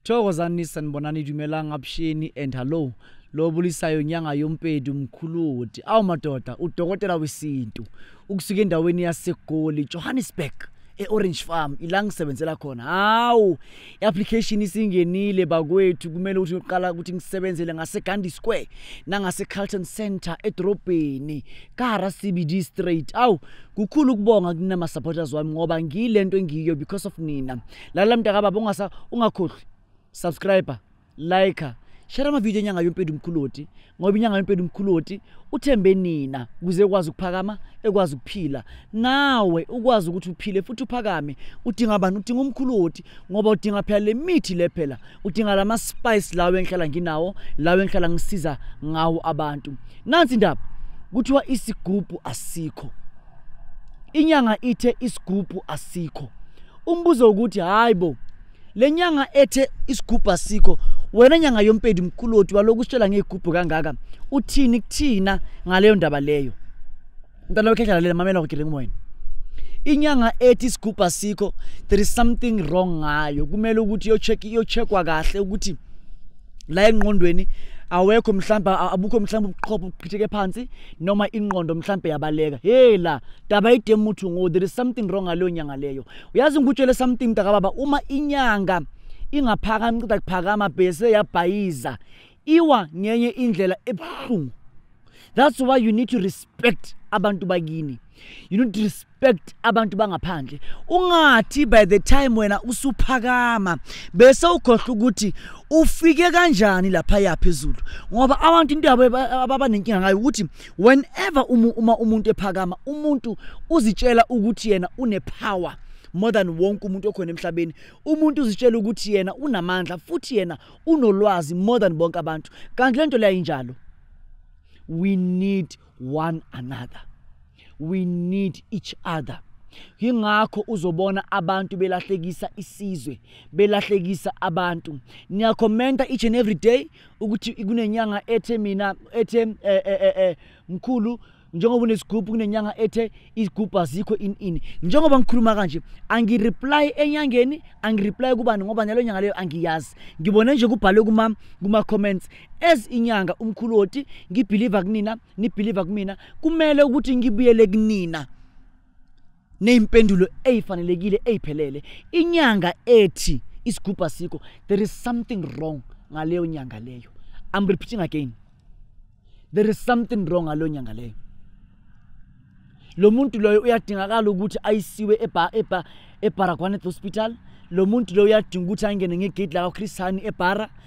thokozani sanibonani dumelanga abusheni and hallo lo bulisayo nyanga yompedi umkhuludi awu madoda udokotela wesintu ukusuka endaweni yasegoli johannesburg e-orange farm ila ngisebenzela khona hawu i-application isingenile bakwethu kumele ukuthi uqala ukuthi ngisebenzele ngasegandhi square nangasecarlton center edorobheni kahara cbd straight awu kukhulu ukubonga kunama-supporters wami ngoba ngiyile nto engiyiyo because of nina lalela mntakababa ungakhohlwi subscriber like share amavidiyo enyanga yompedi umkhuloti ngoba inyanga yompedi umkhuloti uthembe nina ukuze ekwazi ukuphakama ekwazi ukuphila nawe ukwazi ukuthi uphile futhi uphakame udinga bani udinga umkhuloti ngoba udinga phela le mithi le phela udinga la ma-spice lawo engihlala nginawo lawo engihlala ngisiza ngawo abantu nansi indaba kuthiwa isigubhu asikho inyanga ithe isigubhu asikho umbuzo ukuthi hayi bo le nyanga ethe isigubhu asikho wena nyanga yompedi mkuloti waloku usitshela ngey'gubhu kangaka uthini kuthina ngaleyo ndaba leyo mntana wekhehla lalela mamela kugile ngumoyeni inyanga ethi isigubhu asikho there is something wrong ngayo kumele ukuthi iyocheckwa kahle ukuthi la engqondweni awekho mhlawumbe abukho mhlawumbe ubuqhopho buqhitheke phansi noma ingqondo mhlawumbe yabaleka hey la daba idemuthu ngo there is something wrong ngaleyo nyanga leyo uyazi ngikutshele something mntakababa uma inyanga ingaphakami cida kuphakama bese yabhayiza iwa ngenye indlela ebuhlungu that's why you need to respect abantu bakini you need to respect abantu bangaphandle ungathi by the time wena usuphakama bese ukhohlwa ukuthi ufike kanjani lapha yaphezulu ngoba abantu into yabo abanenkinga ngayo ukuthi whenever umu, uma umuntu ephakama umuntu uzitshela ukuthi yena unepower more than wonke umuntu okhona emhlabeni umuntu uzitshela ukuthi yena unamandla futhi yena unolwazi more than bonke abantu kanti lento leyo injalo we need one another we need each other yingakho uzobona abantu belahlekisa isizwe belahlekisa abantu niyakhomenta each and every day ukuthi kunenyanga ethe mina ethe eh, eh, eh, eh mkhulu njengoba unesigubhu kunenyanga ethe izigubhu azikho in in njengoba ngikhuluma kanje angireply enyangeni angireply kubani ngoba nyalo nyanga leyo angiyazi ngibone nje kubhalwe kuma kuma comments as inyanga umkhulu woti ngibelieve kunina nibelieve kumina kumele ukuthi ngibuyele kunina nezimpendulo ezifanelekile eziphelele inyanga ethi isigubha sikho there is something wrong ngaleyo nyanga leyo i'm repeating again there is something wrong ngaleyo nyanga leyo lo muntu loyo uyadingakala ukuthi ayisiwe ebaragwanet hospital lo muntu loyo uyadinga ukuthi angene ngegedi lakakhristani ebara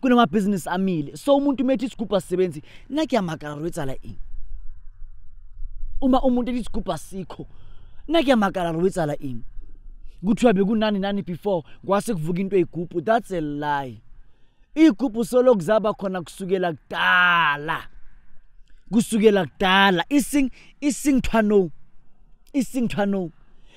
kunamabhizinisi amile so umuntu uma ethi isigubhu asisebenzi nakuyamakaro etsala ini uma umuntu ethi isigubhu asikho nakuyamakaro wetsala ini kuthiwa bekunani nani before kwase kuvuka into eyigubhu that's a lie iy'gubhu solo kuzaba khona kusukela kudala kusukela kudala ising isingthwano isingthwano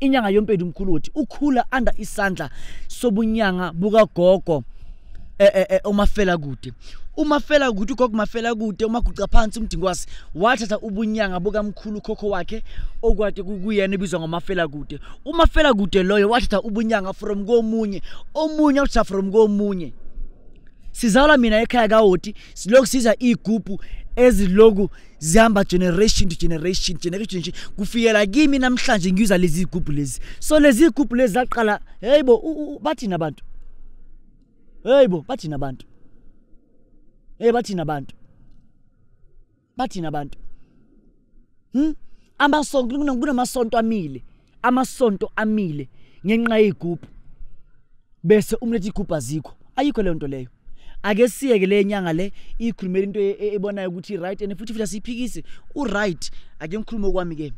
inyanga yompedi umkhuluthi ukhula under isandla sobunyanga bukagogo eh, eh, eh, umafela kude umafela kude ugogo mafela kude umaguca phansi umdingwasi wathatha ubunyanga bukamkhulu khokho wakhe okwade kuyena ebizwa ngomafela kude umafela kude loyo wathatha ubunyanga from komunye omunye wathatha from komunye sizalwa mina ekhaya kawoti siloku siza iy'gubhu eziloku zihamba generation to generation generation to kufikela kimi namhlanje ngiyuza lezi zigubhu lezi so lezi zigubhu lezi zaqala hey bo bathina abantu hey bo bathina abantu hey bathina abantu bathina abantu hm amasonto kunamasonto amile amasonto amile ngenxa yey'gubhu bese umletha igubhu azikho ayikho leyo nto leyo ake siyeke le nyanga le ikhulumela into e-, e-, ebonayo ukuthi right and futhi futhi asiyiphikisi uright ake ngikhulume okwami ke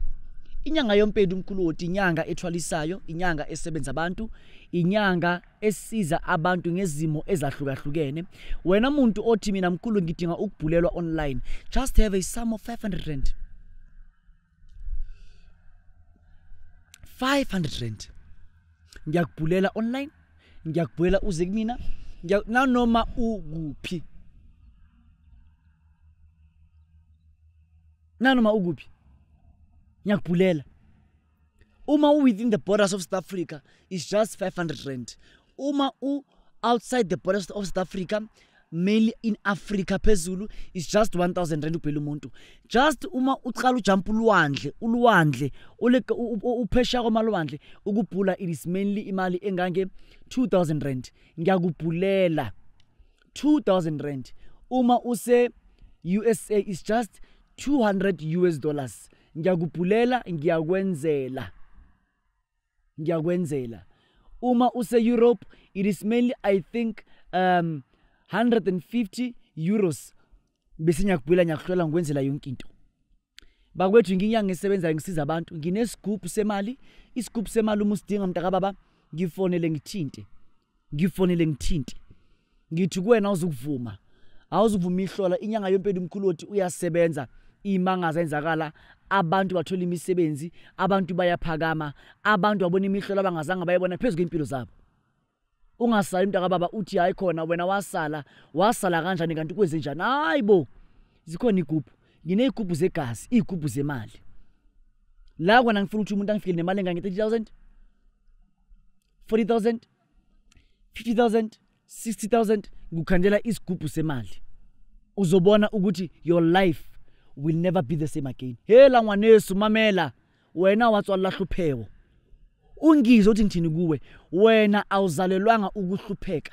inyanga yompedi umkhuloti inyanga ethwalisayo inyanga esebenza abantu inyanga esiza abantu ngezimo ezahlukahlukene wena muntu othi mina mkhulu ngidinga ukubhulelwa online just have a sum of 500 rand 500 rand ngiyakubhulela online ngiyakubhulela uze kumina nanoma ukuphi nanoma ukuphi ngiyakubhulela uma u-within the borders of south africa is just 500 rand uma u outside the borders of south africa mainly in africa phezulu is just 1000 rand ubhela umuntu just uma uqala ujump ulwandle ulwandle uphesha kwamalwandle ukubhula it is mainly imali engange 2000 rand ngiyakubhulela 2000 rand uma use usa is just 200 us dollars ngiyakubhulela ngiyakwenzela ngiyakwenzela uma use Europe it is mainly i think um 150 euros bese ngiyakubuyela ngiyakuhlola ngikwenzela yonke into bakwethu nginyanga ngisebenzayo ngisiza abantu nginesigubhu semali isigubhu semali uma usidinga mntakababa ngifonele ngithinte ngifonele ngithinti ngithi kuwena awuzukuvuma awuzukuvuma ihlola inyanga yompela umkhulu othi uyasebenza imangaza enzakala abantu bathola imisebenzi abantu bayaphakama abantu babona imihlola abangazange bayebona phezu kwempilo zabo ungasali umntu akababa uthi hayi khona wena wasala wasala kanjani kanti kwenze njani hayi bo zikhona igubhu nginey'gubhu zegazi iy'gubhu zemali la kona ngifuna ukuthi umuntu angifikele nemali engange-30 000 40000 50000 60000 ngikukhandela isigubhu semali uzobona ukuthi your life will never be the same again hela ngwanesu mamela wena watswalela hlupheko ungizwe ukuthi ngithini kuwe wena awuzalelwanga ukuhlupheka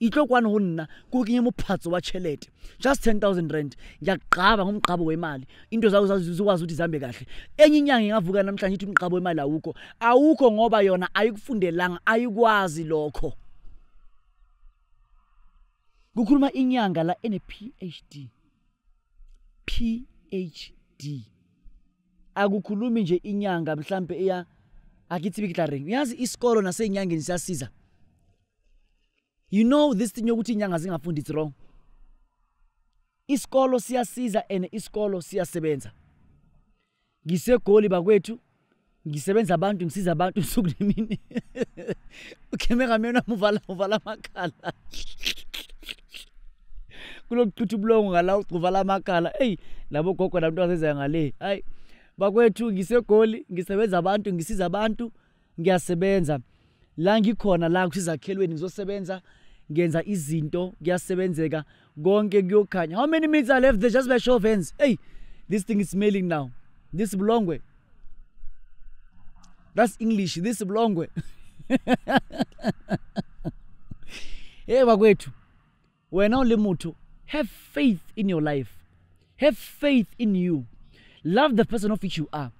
itlo kwani ho nna ke o kenye mophatso wa tšhelete just 10000 rand ngiyakugqaba ngomgqabo wemali into zawo zikwazi ukuthi zihambe kahle enye inyanga ingavuka namhlanje ithi umgqabo wemali awukho awukho ngoba yona ayikufundelanga ayikwazi lokho kukhuluma inyanga la ene-phd phd akukhulumi nje inyanga mhlampe eya akithi bikitla reng uyazi isikolo nasey'nyangeni siyasiza you know this thing yokuthi inyanga zingafundi it's wrong isikolo siyasiza and isikolo siyasebenza ngisegoli bakwethu ngisebenza abantu ngisiza abantu usuku nemini ukheme ngamyona muvala muvala amakhala kulokuchitha ubulongo ngala uvala amakhala eyi labo gogo namntu azezayo ngale hayi bakwethu ngisegoli ngisebenza abantu ngisiza abantu ngiyasebenza la ngikhona la kusizakhelweni ngizosebenza ngenza izinto kuyasebenzeka konke kuyokhanya how many minutes are left there just by show of hands hey this thing is smelling now this bulongwe that's english this bulongwe hey bakwethu wena o le motho have faith in your life have faith in you love the person of which you are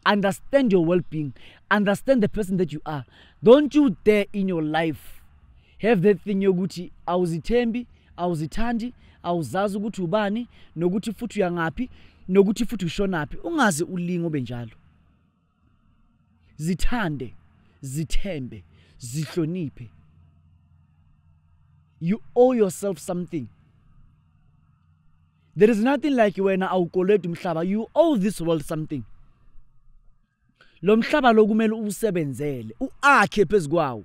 understand your well-being understand the person that you are don't you dare in your life have that thing yokuthi awuzithembi awuzithandi awuzazi ukuthi ubani nokuthi futhi uyangaphi nokuthi futhi ushonaphi ungaze ulinga obenjalo zithande zithembe zihloniphe you owe yourself something there is nothing like wena awukoleti umhlaba you owe this world something lo mhlaba lokumele usebenzele uakhe phezukwawo